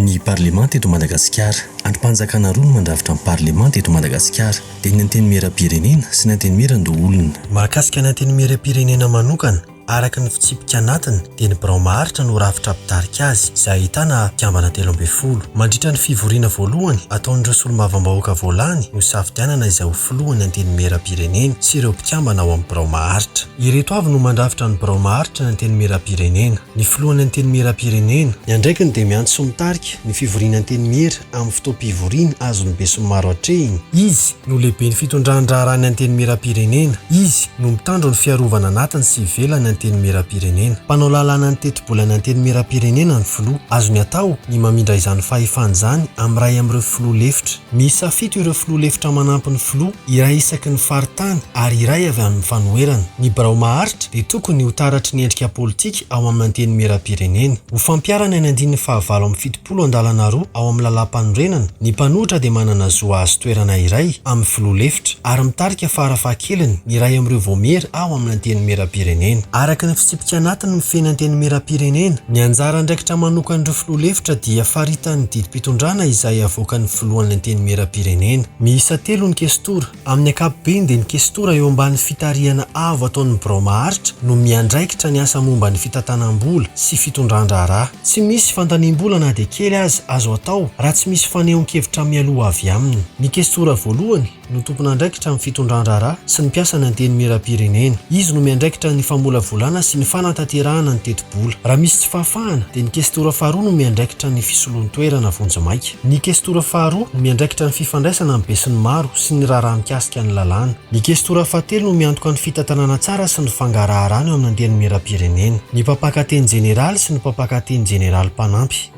Ny Parlemanta eto Madagasikara. Andrim-panjakana roa no mandrafitra ny Parlemanta eto Madagasikara, dia ny Antenimieram-pirenena sy ny Antenimieran-doholona. Mahakasika ny Antenimieram-pirenena manokana, Araka ny fitsipika anatiny dia ny birao maharitra no rafitra mpitarika azy izay ahitana mpikambana telo ambin'ny folo. Mandritra ny fivoriana voalohany ataon'ireo solombavambahoaka voalany no hisafidianana izay ho filohan'ny Antenimierampirenena sy ireo mpikambana ao amin'ny birao maharitra. Ireto avy no mandrafitra ny birao maharitra ny Antenimierampirenena, ny filohan'ny Antenimierampirenena, Ny andraikiny dia miantso sy mitarika ny fivoriana Antenimiera, amin'ny fotoam-pivoriana azon'ny besinimaro atrehina. Izy no lehiben'ny fitondran-draharahan'ny Antenimierampirenena. Izy no mitandro ny fiarovana anatiny sy ivelan'ny Antenimierampirenena. Mpanao lalàna ny tetibolan'ny Antenimierampirenena ny Filoha. Azony atao ny mamindra izany fahefana izany amin'ny iray amin'ireo Filoha lefitra. Miisa fito ireo Filoha lefitra manampy ny Filoha, iray isaky ny faritany ary iray avy amin'ny fanoherana. Ny birao maharitra dia tokony ho taratry ny endrika politika ao amin'ny Antenimierampirenena. Ho fampiharana ny andininy fahavalo amby fitopolo Polon-dalana roa ao amin'ny lalàmpanorenana, ny mpanohitra dia manana zo hahazo toerana iray amin'ny filoha lefitra, ary mitarika fara fahakeliny ny iray amin'ireo vaomiera ao amin'ny Antenimierampirenena. Araka ny fitsipika anatiny mifehy ny Antenimierampirenena, ny anjara andraikitra manokan'ireo filoha lefitra dia faritanin'ny didim-pitondràna izay avoakan'ny filohan'ny Antenimierampirenena. Miisa telo ny kestora. Amin'ny ankapobeny dia ny kestora eo ambany fitarihana avo ataon'ny birao maharitra no miandraikitra ny asa momba ny fitantanam-bola sy fitondran-draharaha. Tsy misy fandaniam-bola na dia kely aza azo atao raha tsy misy fanehoan-kevitra mialoha avy aminy. Ny kestora voalohany no tompon'andraikitra amin'ny fitondran-draharaha sy ny mpiasan'ny Antenimierampirenena. Izy no miandraikitra ny famolavolana sy ny fanatanterahana ny teti-bola. vola. Raha misy tsy fahafahana, dia ny kestora faharoa no miandraikitra ny fisoloan-toerana vonjimaika. Ny kestora faharoa no miandraikitra ny fifandraisana amin'ny besinimaro sy ny raharaha mikasika ny lalàna. Ny kestora fahatelo no miantoka ny fitantanana tsara sy ny fangaraharana eo amin'ny Antenimierampirenena, ny mpampakateny jeneraly sy ny mpampakateny jeneraly mpanampy.